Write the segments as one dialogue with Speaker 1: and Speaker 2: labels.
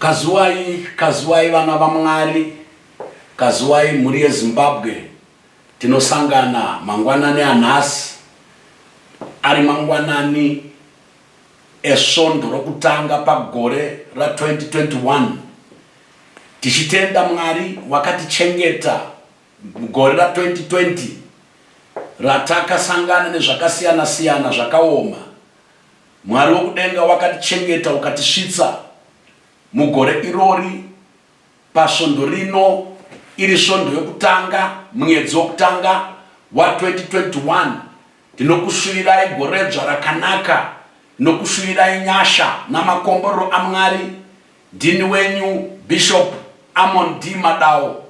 Speaker 1: Kazuwai kazuwai vana vaMwari kazuwai mhuri yeZimbabwe tinosangana mangwanani anhasi ari mangwanani esvondo rokutanga pagore ra 2021 tichitenda Mwari wakatichengeta mugore ra 2020 ratakasangana nezvakasiyana siyana zvakaoma Mwari wokudenga wakatichengeta ukatisvitsa mugore irori pasvondo rino, iri svondo yokutanga munyedzi wokutanga wa 2021. Ndinokusvirirai goredzva rakanaka, ndinokusvirirai nyasha namakomborero aMwari. Ndini wenyu Bishop Amon D Madao,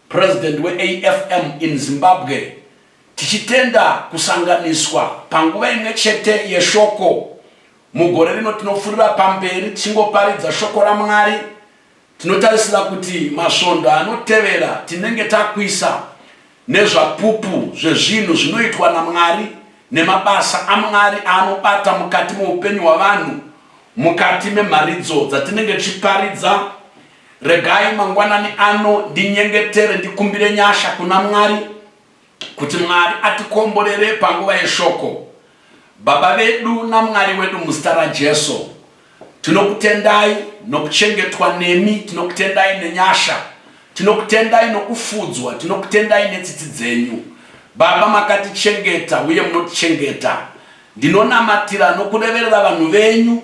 Speaker 1: President weAFM in Zimbabwe Tichitenda kusanganiswa panguva imwe chete yeShoko mugore rino, tinopfuurira pamberi tichingoparidza Shoko raMwari. Tinotarisira kuti masvondo anotevera tinenge takuisa neZvapupu zvezvinhu zvinoitwa naMwari nemabasa aMwari aanobata mukati meupenyu hwavanhu mukati memharidzo dzatinenge tichiparidza. Regai mangwanani ano ndinyengetere ndikumbire nyasha kuna Mwari. kuti Mwari atikomborere panguva yeshoko. Baba vedu naMwari wedu muzita raJesu, tinokutendai nokuchengetwa nemi, tinokutendai nenyasha, tinokutendai nokufudzwa, tinokutendai netsitsi dzenyu. Baba makatichengeta uye munotichengeta. Ndinonamatira nokureverera vanhu venyu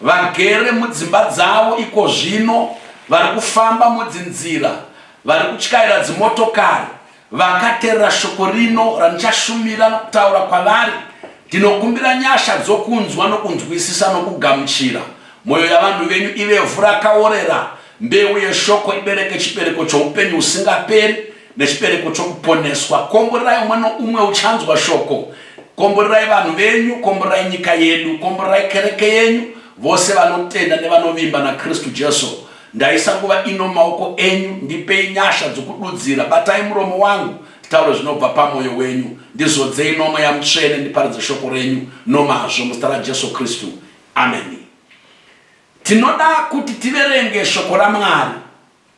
Speaker 1: Vagere mudzimba dzavo ikozvino vari kufamba mudzinzira, vari kutyaira dzimotokari, vakaterera shoko rino randichashumira nokutaura kwavari, ndinokumbira nyasha dzokunzwa nokunzwisisa nokugamuchira. Moyo yavanhu venyu ive vhu rakaorera, mbeu yeshoko ibereke chibereko choupenyu husingaperi, nechibereko chokuponeswa. Komborerai umwe noumwe uchanzwa shoko. Komborerai vanhu venyu, komborerai nyika yedu, komborerai kereke yenyu, vose vanotenda nevanovimba naKristu Jesu. Ndaisa nguva ino maoko enyu, ndipei nyasha dzokududzira. Batai muromo wangu, nditaure zvinobva pamwoyo wenyu. Ndizodzei nomweya mutsvene, ndiparidze shoko renyu nomazvo, muzita raJesu Kristu, ameni. Tinoda kuti tiverenge shoko raMwari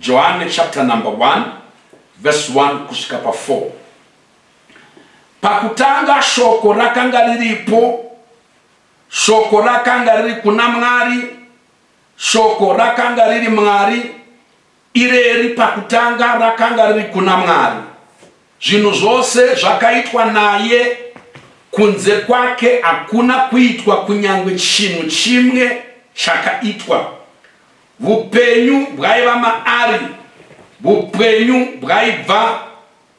Speaker 1: Johane chapter number 1 verse 1 kusvika pa 4. Pakutanga shoko rakanga riripo, shoko rakanga riri kuna Mwari, shoko rakanga riri Mwari, ireri pakutanga rakanga riri kuna Mwari. Zvinhu zvose zvakaitwa naye, kunze kwake hakuna kuitwa kunyange chinhu chimwe chakaitwa. Vupenyu bwaiva maari, vupenyu bwaibva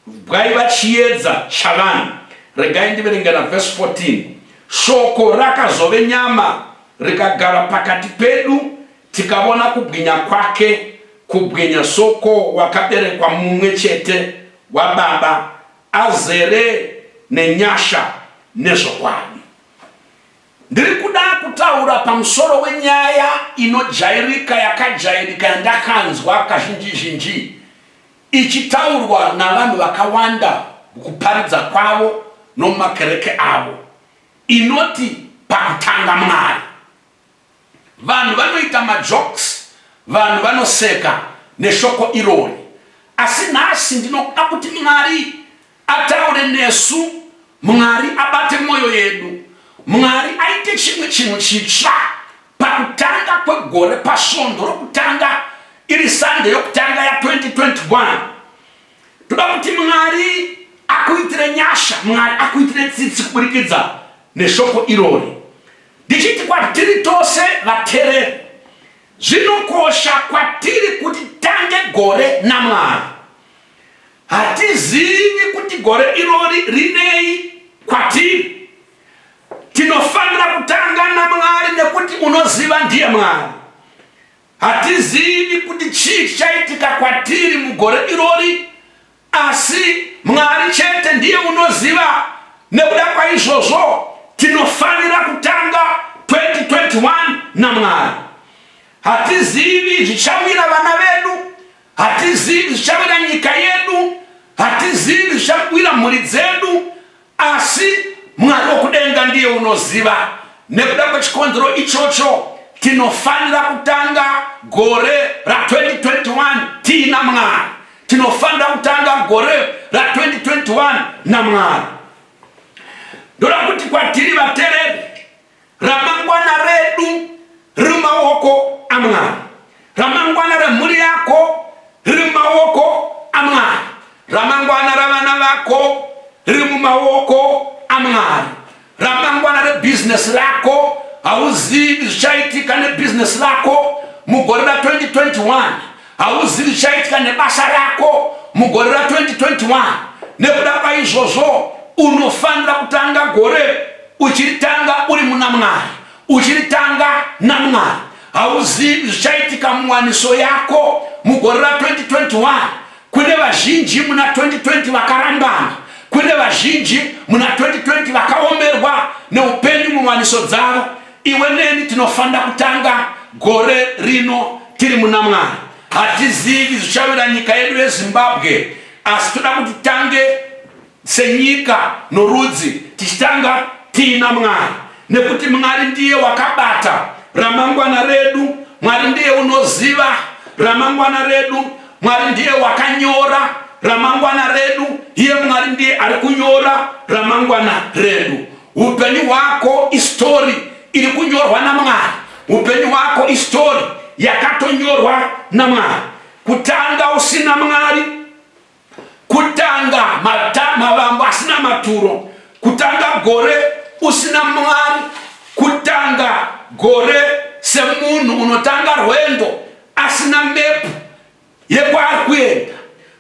Speaker 1: bwaiva chiedza chavanhu. Regai ndiverengera vhesi 14 shoko rakazove nyama rikagara pakati pedu tikavona kubwinya kwake kubwinya soko wakaberekwa mumwe chete wababa azere nenyasha nezvokwadi. Ndiri kuda kutaura pamusoro wenyaya inojairika yakajairika yandakanzwa kazhinji zhinji ichitaurwa navanhu vakawanda mukuparidza kwavo nomumakereke avo inoti pakutanga Mwari. Vanhu vanoita majokes, vanhu vanoseka neshoko irori. Asi nhasi ndinoda kuti Mwari ataure nesu, Mwari abate mwoyo yedu, Mwari aite chimwe chinhu chitsva pakutanga kwegore, pasvondo rokutanga, iri Sunday yokutanga ya 2021. Toda kuti Mwari akuitire nyasha, Mwari akuitire tsitsi kuburikidza neshoko irori. Ndichiti kwatiri tose vatereri, zvinokosha kwatiri kuti tange gore naMwari. Hatizivi kuti gore irori rinei kwatiri. Tinofanira kutanga naMwari nekuti unoziva ndiye Mwari. Hatizivi kuti chii chichaitika kwatiri mugore irori Asi Mwari chete ndiye unoziva. Nekuda kwaizvozvo, tinofanira kutanga 2021 naMwari. Hatizivi zvichawira vana vedu, hatizivi zvichawira nyika yedu, hatizivi zvichawira mhuri dzedu, Asi Mwari wokudenga ndiye unoziva. Nekuda kwechikonzero ichocho, tinofanira kutanga gore ra 2021 tiina Mwari. Tinofanira kutanga gore ra 2021 naMwari. Ndoda kuti kwatiri vatereri Ramangwana redu riri mumaoko aMwari. Ramangwana remhuri yako riri mumaoko aMwari. Ramangwana ravana vako riri mumaoko aMwari. Ramangwana rebhizinesi rako hauzivi zvichaitika nebhizinesi rako mugore ra 2021 hauzivi zvichaitika nebasa rako mugore ra 2021 nekuda kwaizvozvo unofanira kutanga gore uchiritanga uri muna mwari uchiritanga namwari hauzivi zvichaitika muwaniso yako mugore ra 2021 kune vazhinji muna 2020 vakarambana kune vazhinji muna 2020 vakaomerwa neupenyu muwaniso dzavo iwe neni tinofanira kutanga gore rino tiri muna mwari hatizivi zvichavira nyika yedu yezimbabwe asi toda kuti tange Senyika norudzi tichitanga tiina Mwari nekuti Mwari ndiye wakabata ramangwana redu, Mwari ndiye unoziva ramangwana redu, Mwari ndiye wakanyora ramangwana redu, iye Mwari ndiye ari kunyora ramangwana redu. Upenyu hwako istori iri kunyorwa naMwari, upenyu hwako istori yakatonyorwa naMwari. Kutanga usina Mwari kutanga mavambo asina maturo kutanga gore usina mwari kutanga gore semunhu unotanga rwendo asina mepu yekwaari kuenda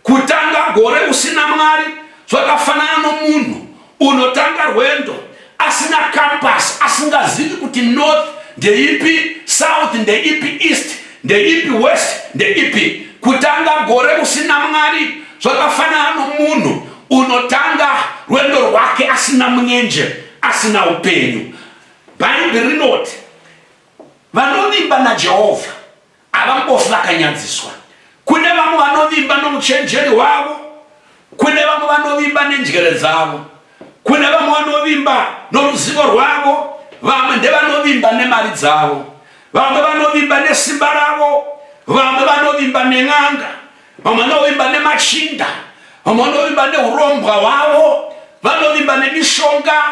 Speaker 1: kutanga gore usina mwari zvakafanana nomunhu Unotanga rwendo asina campus asingazivi kuti north ndeipi south ndeipi east ndeipi west ndeipi kutanga gore usina mwari zvakafanana nomunhu unotanga rwendo rwake asina munyenje asina upenyu bhaibheri rinoti vanovimba najehovha Havambofi vakanyadziswa. Kune vamwe vanovimba nouchenjeri hwavo, kune vamwe vanovimba nenjere dzavo, kune vamwe vanovimba noruzivo rwavo, vamwe ndevanovimba nemari dzavo, vamwe vanovimba nesimba ravo, vamwe vanovimba nen'anga, vamwe vanovimba nemachinda vamwe vanovimba neurombwa hwavo vanovimba nemishonga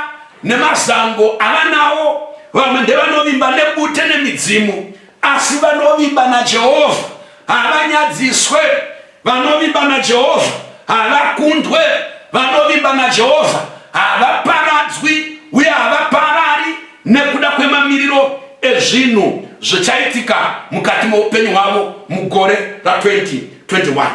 Speaker 1: nemazango avanawo vamwe ndevanovimba nebute nemidzimu asi vanovimba najehovha havanyadziswe vanovimba najehovha havakundwe vanovimba najehovha havaparadzwi uye havaparari nekuda kwemamiriro ezvinhu zvichaitika mukati meupenyu hwavo mugore ra2021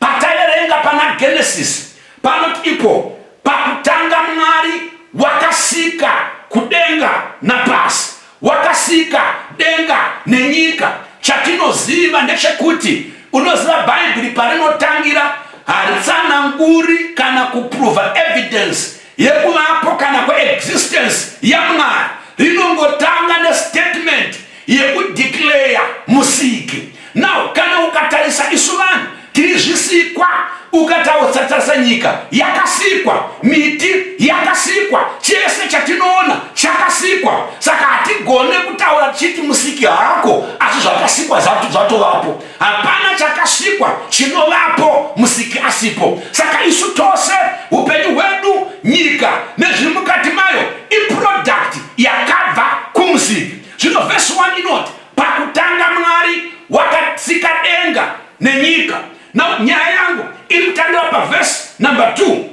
Speaker 1: pataiverenga pana genesisi panoti ipo pakutanga mwari wakasika kudenga napasi wakasika denga nenyika chatinoziva ndechekuti unoziva bhaibheri parinotangira haritsananguri kana kupruva evidence yekuvapo kana kweexistence yamwari rinongotanga nestatement yekudeclare musiki now kana ukatarisa isu vanhu tiri zvisikwa ukatautsatarisa nyika yakasikwa miti yakasikwa chese chatinoona chakasikwa saka hatigone kutaura tichiti musiki haako asi zvakasikwa zvatovapo hapana chakasikwa chinovapo musiki asipo saka isu tose upenyu hwedu nyika nezviri mukati mayo iproduct yakabva kumusiki zvino vhesi 1 inoti pakutanga mwari wakatsika denga nenyika now nyaya yangu iri kutangira pavhesi number 2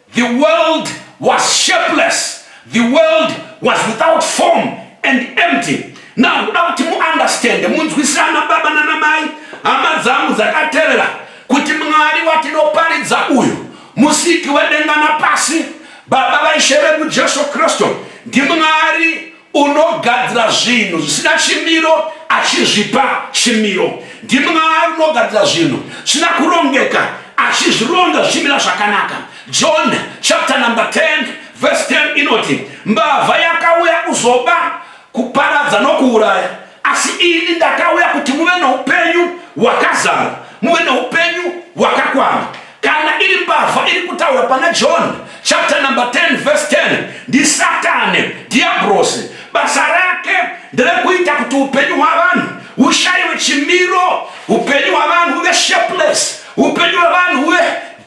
Speaker 1: The world was shapeless, the world was without form and empty. Now ndoda kuti muunderstande, munzwisana baba nanamai, hama dzangu dzakaterera, kuti Mwari watinoparidza uyu, musiki wedenga napasi, Baba vaIshe vedu Jesu Kristu, ndiMwari unogadzira zvinhu zvisina chimiro achizvipa chimiro ndimwari unogadzira zvinhu zvisina kurongeka achizvironga zvichimira zvakanaka john chapter number 10 verse 10 inoti mbavha yakauya kuzoba kuparadza nokuuraya asi ini ndakauya kuti muve noupenyu hwakazara muve noupenyu hwakakwana kana iri mbavha iri kutaura pana john chapter number 10 verse 10 ndisatani dhiabrosi basa rake nderekuita kuti upenyu hwavanhu hushaiwe chimiro upenyu hwavanhu huve shapeless upenyu hwavanhu huve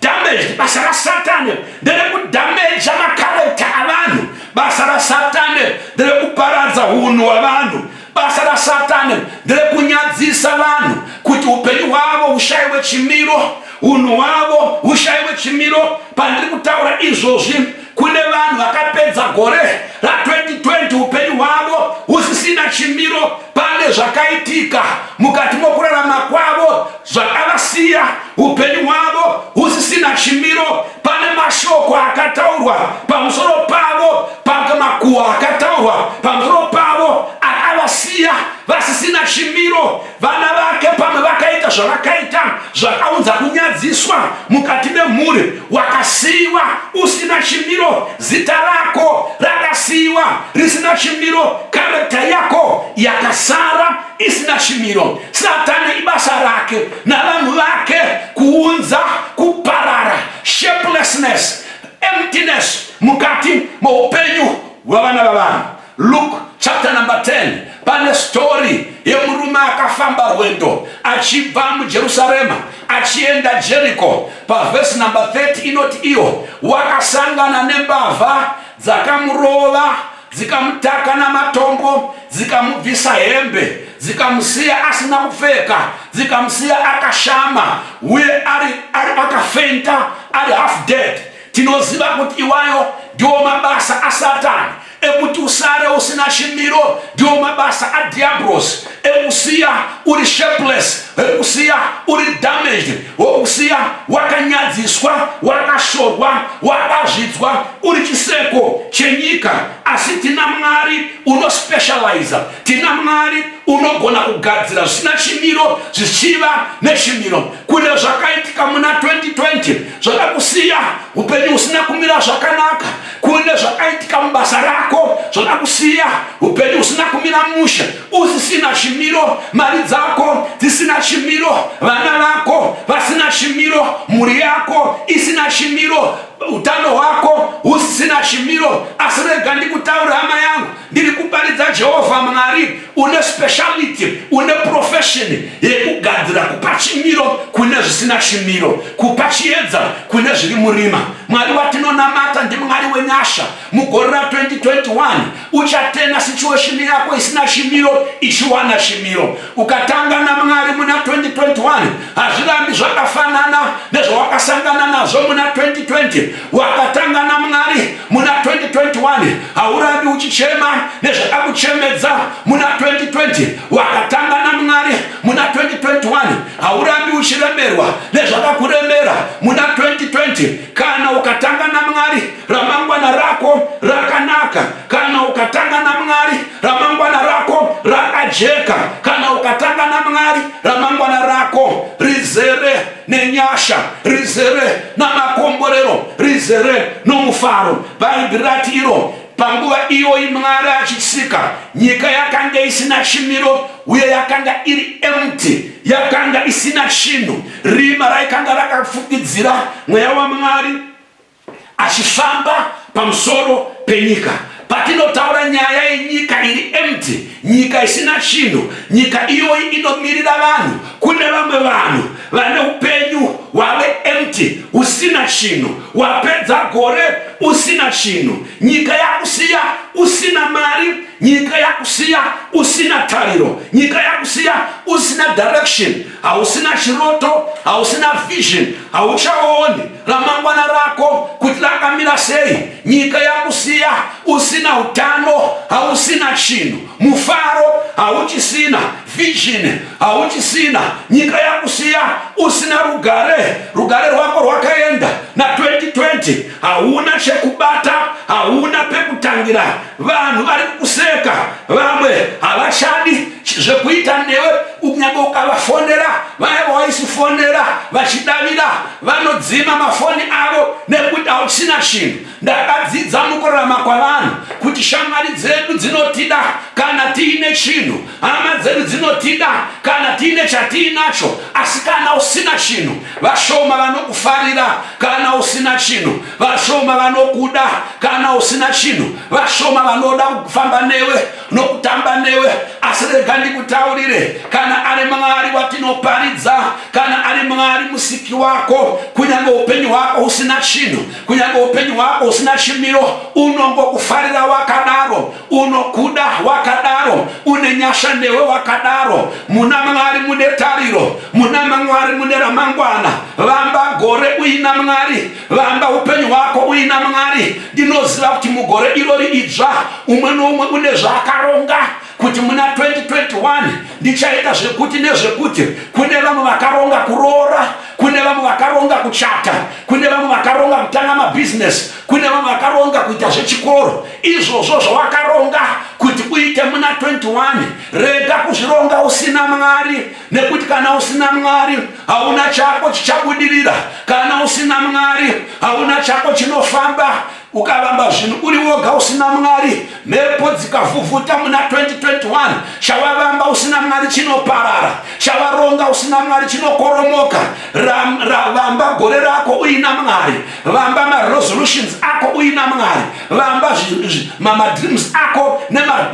Speaker 1: damaged basa rasatani nderekudhameja makarekta avanhu basa rasatani nderekuparadza unhu hwavanhu basa rasatani nderekunyadzisa vanhu kuti upenyu hwavo hushaiwe chimiro unhu hwavo hushaiwe chimiro pandiri kutaura izvozvi Kune vanhu vakapedza gore ra 2020 upenyu hwavo husisina chimiro. Pane zvakaitika mukati mokurarama kwavo zvakavasiya upenyu hwavo husisina chimiro. Pane mashoko akataurwa pamusoro pavo, pamakuwa akataurwa pamusoro pavo akavasiya vasisina chimiro. vana vake pamwe vakaita zvavakaita zvakaunza kunyadziswa mukati memhuri wakasiyiwa usina chimiro zita rako rakasiyiwa risina chimiro karekta yako yakasara isina chimiro satani ibasa rake navanhu vake kuunza kuparara shapelessness emptiness mukati moupenyu hwevana vavanhu Luke chapter number 10 pane story yemurume akafamba rwendo achibva mujerusarema achienda jeriko pavhesi number 30 inoti iyo wakasangana nembavha dzakamurova dzikamutaka namatombo dzikamubvisa hembe dzikamusiya asina kupfeka dzikamusiya akashama uye ari, ari akafenta ari half dead Tinoziva kuti iwayo ndiwo mabasa aSatani ekuti usare usina chimiro, ndiwo mabasa aDhiabhorosi ekusiya uri shapeless, ekusiya uri damaged, wokusiya wakanyadziswa, wakashorwa, wakazvidzwa, uri chiseko chenyika. Asi tina Mwari unospecializa, tina Mwari unogona kugadzira zvisina chimiro zvichiva nechimiro. kune zvakaitika muna 2020 zvada kusiya upenyu usina kumira zvakanaka kune zvakaitika mubasa rako zvada kusiya upenyu usina kumira mushe usisina chimiro mari dzako dzisina chimiro vana vako vasina chimiro mhuri yako isina chimiro utano hwako husisina chimiro asi rega ndikutaura hama yangu ndiri kuparidza jehovha mwari une speciality une profession yekugadzira kupa chimiro kune zvisina chimiro kupa chiedza kune zviri murima mwari watinonamata ndimwari wenyasha mugore ra 2021 uchatena situation yako isina chimiro ichiwana chimiro ukatanga namwari muna 2021 hazvirambi zvakafanana nezvawakasangana nazvo muna 2020 wakatanga namwari muna 2021 haurambi uchichema nezvakakuchemedza muna 2020 wakatanga namwari muna 2021 haurambi uchiremerwa nezvakakuremera muna 2020 kana ukatanga namwari ramangwana rako rakanaka kana ukatanga namwari ramangwana rako rakajeka kana ukatanga namwari ramangwana rako rizere nenyasha rizere namakomborero rizere nomufaro bhaibheri rati iro panguva iyoyi mwari achisika nyika yakanga isina chimiro uye yakanga iri empty yakanga isina chinhu rima raikanga rakafukidzira mweya wamwari achifamba pamusoro penyika patinotaura nyaya yenyika iri empty nyika isina chinhu nyika iyoyi inomirira vanhu kune vamwe vanhu vane upenyu hwave empty usina chinhu wapedza gore usina chinhu nyika yakusiya usina mari nyika yakusiya usina tariro nyika yakusiya usina direction hausina chiroto hausina vision hauchaoni ramangwana rako kuti rakamira sei nyika yakusiya usina utano hausina chinhu mufaro hauchisina vision hauchisina nyika yakusiya usina rugare rugare rwako rwakaenda na 2020 hauna chekubata hauna pekutangira vanhu vari kukuseka vamwe havachadi zvekuita newe kunyange ukavafonera vaya vawaisifonera vachidavira vanodzima mafoni avo nekuti hauchina chinhu ndakadzidza mukurarama kwavanhu kuti shamwari dzedu dzinotida kana tiine chinhu hama dzedu dzinotida kana tiine chatiinacho asi kana usina chinhu vashoma vanokufarira kana usina chinhu vashoma vanokuda kana usina chinhu vashoma vanoda kufamba newe nokutamba newe asi rega ndikutaurire kana ari mwari watinoparidza kana ari mwari musiki wako kunyange upenyu hwako usina chinhu kunyange upenyu hwako usina chimiro unongokufarira wakadaro unokuda wakadaro une nyasha newe wakadaro muna mwari mune tariro muna mwari mune ramangwana vamba gore uina mwari Vamba upenyu hwako uina Mwari. Ndinoziva kuti mugore irori idzva umwe noumwe une zvaakaronga kuti muna 2021 ndichaita zvekuti nezvekuti. Kune vamwe vakaronga kuroora, kune vamwe vakaronga kuchata, kune vamwe vakaronga kutanga mabhizinesi, kune vamwe vakaronga kuita zvechikoro. Izvozvo zvawakaronga kuti uite muna 21 rega kuzvironga usina Mwari, nekuti kana usina Mwari hauna chako chichabudirira kana usina mwari hauna chako chinofamba ukavamba zvinhu uri woga usina mwari mhepo dzikavhuvhuta muna 2021 chavavamba usina mwari chinoparara chavaronga usina mwari chinokoromoka vamba gore rako uina mwari vamba maresolutions ako uina mwari vamba madreams ako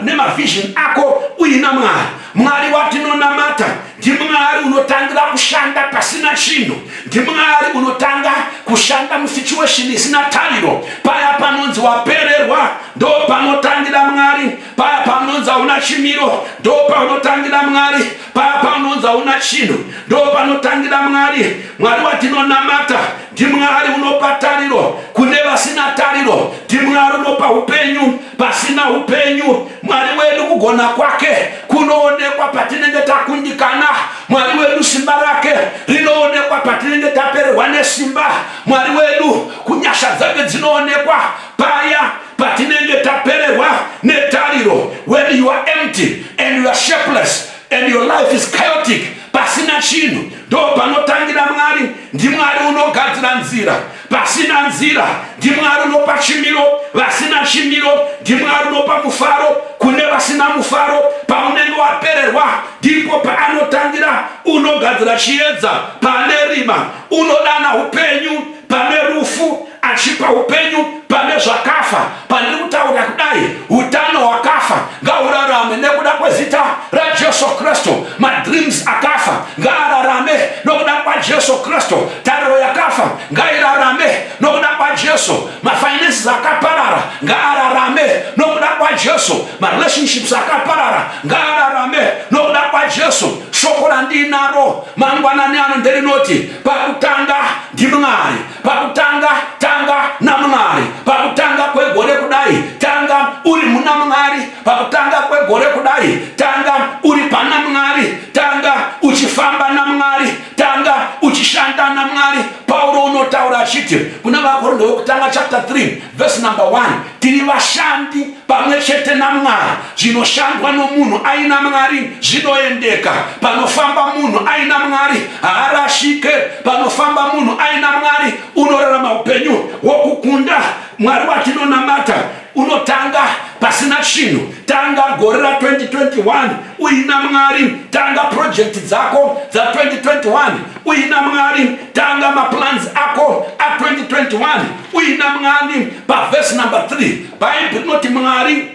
Speaker 1: nemavision ako uina mwari mwari watinonamata NdiMwari unotangira kushanda pasina chinhu. NdiMwari unotanga kushanda musituation isina tariro. Paya panonzi wapererwa ndopanotangira Mwari. Paya panonzi hauna chimiro ndopanotangira Mwari. Paya panonzi hauna chinhu ndopanotangira Mwari. Mwari watinonamata ndiMwari unopa tariro kune vasina tariro. NdiMwari unopa upenyu pasina upenyu mwari wedu kugona kwake kunoonekwa patinenge takundikana mwari wedu simba rake rinoonekwa patinenge tapererwa nesimba mwari wedu kunyasha dzake dzinoonekwa paya patinenge tapererwa netariro when you are empty and you are shapeless and your life is chaotic pasina chinhu ndo panotangira mwari ndimwari unogadzira nzira Pasina nzira ndiMwari unopa chimiro, vasina chimiro ndiMwari unopa mufaro kune vasina mufaro. Paunenge wapererwa ndipo paanotangira, unogadzira chiedza pane rima, unodana upenyu pane rufu, achipa upenyu pane zvakafa. pandiri kutaura kudai utano hwakafa ngaurarame nekuda kwezita rajesu kristu madreams akafa ngaararame nokuda kwajesu kristu tariro yakafa ngairarame nokuda kwajesu mafinances akaparara ngaararame nokuda kwajesu marelationships akaparara ngaararame nokuda kwajesu shoko randinaro mangwanani ano nderinoti pakutanga ndimwari Pakutanga tanga naMwari. Pakutanga kwegore kudai tanga uri muna Mwari. Pakutanga kwegore kudai tanga uri pana Mwari. Tanga uchifamba naMwari. Tanga uchishanda naMwari. Pauro unotaura achiti kuna vaKorinde wekutanga chapter 3 Verse number one, tiri vashandi pamwe chete naMwari. Zvinoshandwa nomunhu aina Mwari zvinoendeka. Panofamba munhu aina Mwari haarashike. Panofamba munhu aina Mwari unorarama upenyu hwokukunda. Mwari watinonamata unotanga pasina chinhu. Tanga gore ra 2021 uina Mwari. Tanga project dzako dza 2021 uina Mwari. Tanga maplans ako a 2021 uina mwani pavhesi number 3 bhaibheri rinoti mwari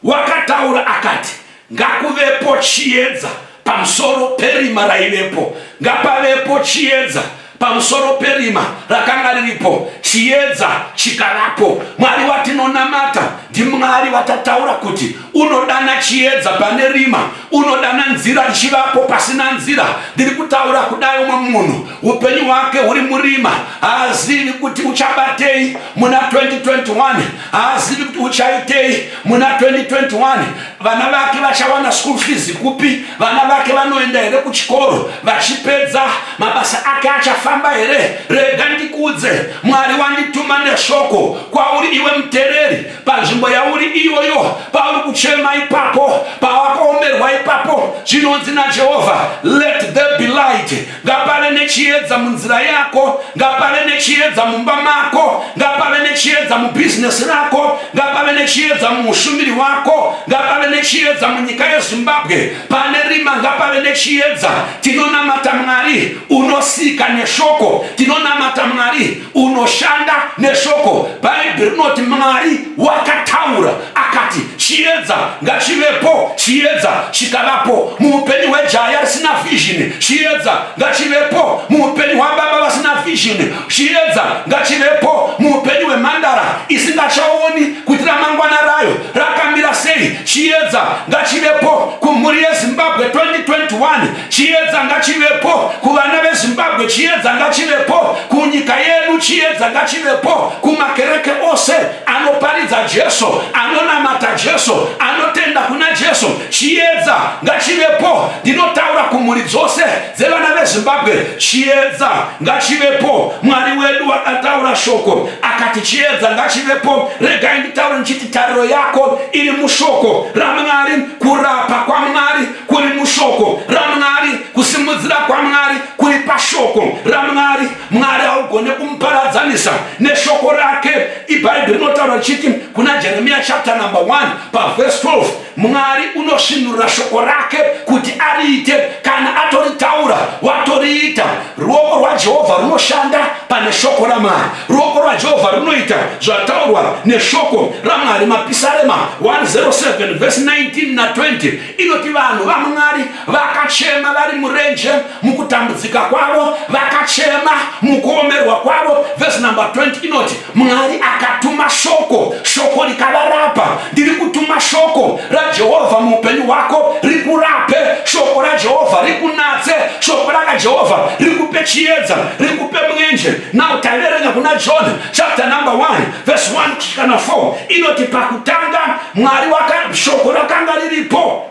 Speaker 1: wakataura akati ngakuvepo chiedza pamusoro perima raivepo ngapavepo chiedza pamusoro perima rakanga riripo chiedza chikavapo mwari watinonamata ndimwari vatataura kuti unodana chiedza pane rima unodana nzira richivapo pasina nzira ndiri kutaura kudai umwe munhu upenyu hwake huri murima haazivi kuti uchabatei muna 2021 haazivi kuti uchaitei muna 2021 vana vake vachawana school fees kupi vana vake vanoenda here kuchikoro vachipedza mabasa ake achafamba here rega ndikudze mwari wandituma neshoko kwauri iwe mutereri panzvimbo yauri iyoyo pauri kuchema ipapo pawakaomerwa ipapo zvinonzi najehovha let there be light ngapave nechiedza munzira yako ngapave nechiedza mumba mako ngapave nechiedza mubhizinesi rako ngapave nechiedza muushumiri wako ngapave nechiedza munyika yezimbabwe pane rima ngapave nechiedza tinonamata mwari unosika neshoko tinonamata mwari unoshanda neshoko bhaibheri rinoti mwari wakataura akati chiedza ngachivepo chiedza chikavapo muupenyu hwejaya risina vhizhini chiedza ngachivepo muupenyu hwababa vasina vhizhini chiedza ngachivepo muupenyu hwemhandara isingachaoni kuti ramangwana rayo rakamira sei chiedza ngachivepo kumhuri yezimbabwe 2021 Chiedza ngachivepo kuvana veZimbabwe, chiedza ngachivepo kunyika yedu, chiedza ngachivepo kumakereke ose anoparidza Jesu, anonamata Jesu, anotenda kuna Jesu. Chiedza ngachivepo, ndinotaura kumhuri dzose dzevana veZimbabwe, chiedza ngachivepo. Mwari wedu akataura shoko akati chiedza ngachivepo. Regai nditaure ndichiti tariro yako iri mushoko raMwari, kurapa kwaMwari kuri mushoko ramwari kusimudzira kwamwari kuri pashoko ramwari mwari haugone kumuparadzanisa neshoko rake ibhaibheri rinotaura richiti kuna jeremiya chapter number 1 pavhesi 12 mwari unosvinurira shoko rake kuti ariite kana atoritaura watoriita ruoko rwajehovha runoshanda pane shoko ramwari ruoko rwajehovha runoita zvataurwa neshoko ramwari mapisarema 107 vhesi 19 na 20 inoti vanhu vamwari vakachema vari murenje mukutambudzika kwavo vakachema mukuomerwa kwavo vhesi number 20 inoti mwari akatuma shoko shoko rikavarapa ndiri kutuma shoko rajehovha muupenyu hwako rikurape shoko rajehovha rikunatse shoko rakajehovha rikupe chiedza rikupe mwenje nau taiverenga kuna john chapter number 1 vhesi 1 kusvikana 4 inoti pakutanga mwari waka shoko rakanga riripo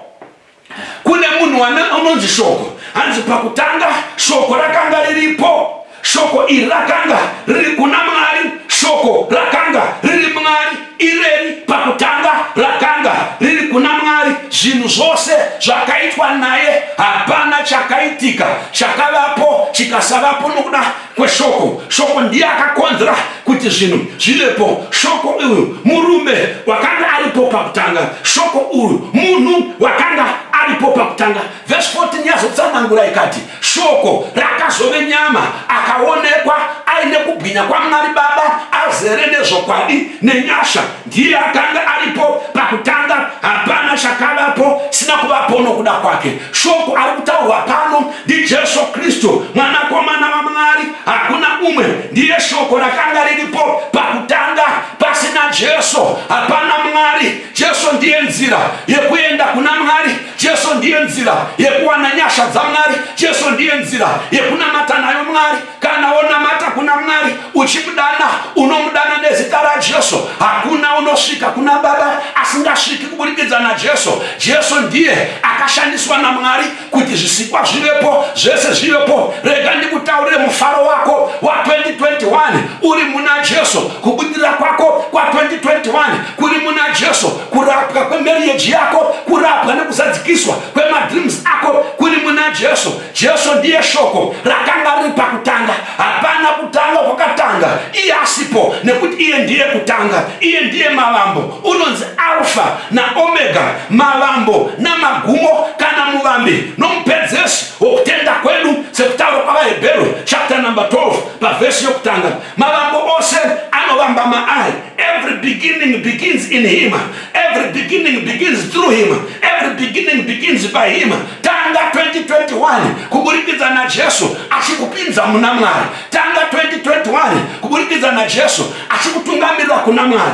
Speaker 1: kune munhu anonzi shoko hanzi pakutanga shoko rakanga riripo shoko iri rakanga riri kuna mwari shoko rakanga riri mwari ireri pakutanga rakanga riri kuna mwari zvinhu zvose zvakaitwa naye hapana chakaitika chakavapo chikasavapo nokuda kweshoko shoko ndiye akakonzera kuti zvinhu zvivepo shoko uyu murume wakanga aripo pakutanga shoko uyu munhu wakanga aripo pakutanga vhesi 14 yazotsanangura ikati shoko rakazove nyama akaonekwa aine kubwinya kwamwari baba azere nezvokwadi nenyasha ndiye akanga aripo pakutanga hapana chakavapo sina kuvapo nokuda kwake shoko ari kutaurwa pano ndijesu kristu mwanakomana vamwari hakuna umwe ndiye shoko rakanga riripo pakutanga pasina jesu hapana mwari jesu ndiye nzira yekuenda kuna mwari jesu ndiye nzira yekuwana nyasha dzamwari jesu ndiye nzira yekunamata nayo mwari Kana wonamata kuna Mwari uchimudana, unomudana nezita raJesu. Hakuna unosvika kuna Baba asingasviki kuburikidza naJesu. Jesu ndiye akashandiswa naMwari kuti zvisikwa zvivepo, zvese zvivepo. Rega ndikutaurire mufaro wako wa 2021 uri muna Jesu, kubudirira kwako kwa 2021 kuri muna Jesu, kurapwa kwemeriyeji yako, kurapwa nekuzadzikiswa kwemadreams ako kuri muna Jesu. Jesu ndiye shoko rakanga riri pakutanga. Hapana kutanga kwakatanga iye asipo, nekuti iye ndiye kutanga, iye ndiye mavambo. Unonzi Alfa naOmega, mavambo namagumo, kana muvambi nomupedzesi wokutenda kwedu, sekutaura kwavaHebheru chapter number 12 pavhesi yokutanga. Mavambo ose anovamba maari. Every beginning begins in him. Every beginning begins through him. Every beginning begins by him. Tanga 2021 kuburikidza na Jesu achikupinza muna Mwari. Tanga 2021 kuburikidza na Jesu achikutungamirira kuna Mwari.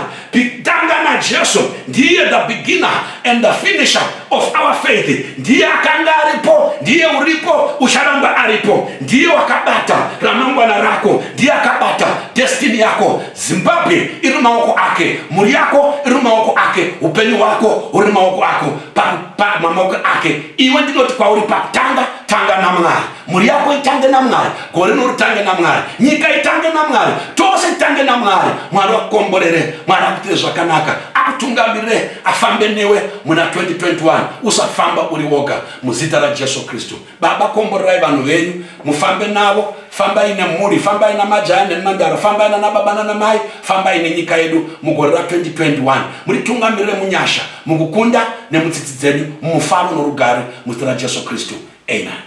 Speaker 1: Tanga na Jesu ndiye the beginner and the finisher of our faith. Ndiye akanga aripo, ndiye uripo, ucharamba aripo. Ndiye wakabata ramangwana rako, ndiye akabata destiny yako. Zimbabwe iri mumaoko ake, mhuri yako iri mumaoko ake, upenyu hwako huri mumaoko ako, pamaoko ake. Iwe ndinoti kwauri pakutanga, tanga naMwari. Mhuri yako itange naMwari, gore rino ritange naMwari, nyika itange naMwari, tose titange naMwari. Mwari wakukomborere, Mwari akuitire zvakanaka, akutungamirire, afambe newe muna 2021. Usafamba uri woga, muzita raJesu Kristu. Baba, komborerai vanhu venyu, mufambe navo, fambai nemhuri, fambai namajaya nemhandara, fambai nana baba nana mai, fambai nenyika yedu mugore ra 2021. Mutitungamirire munyasha, mukukunda nemutsitsi dzedu, mumufaro norugare muzita raJesu Kristu. Amen.